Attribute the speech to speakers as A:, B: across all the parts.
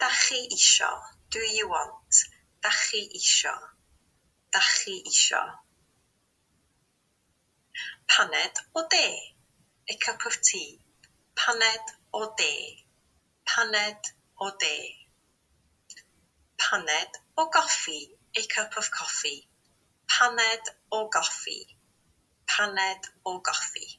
A: Dach chi isio, do you want, dach chi isio, dach chi isio. Paned o de, a cup of tea, paned o de, paned o de. Paned o goffi, a cup of coffee, paned o goffi, paned o goffi.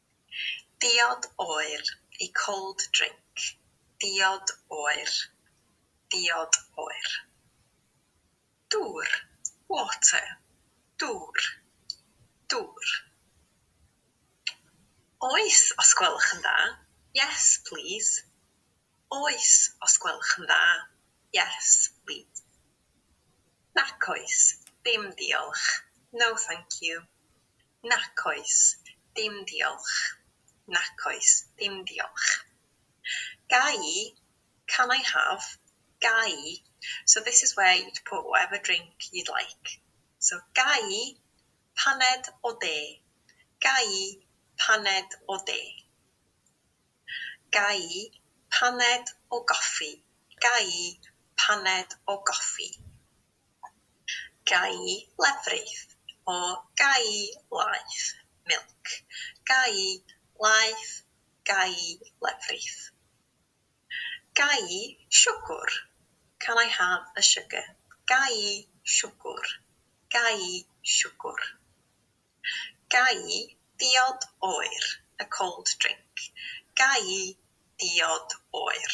A: Diod oer i cold drink Diod oer Diod oer Dŵr water Dŵr dŵr Oes os gwelwch yn dda Yes please Oes os gwelwch yn dda Yes please Nac oes dim diolch No thank you Nac oes, dim diolch. Nac oes, dim diolch. Ga i? Can I have? Ga i? So this is where you'd put whatever drink you'd like. So ga i paned o de? Ga i paned o de? Ga i paned o goffi? Ga i paned o goffi? Gai lefrith o gai laeth milk gai laeth gai lefrith Gai siwgwr can I have a sugar gai siwgwr gai siwgwr Gai diod oer a cold drink gai diod oer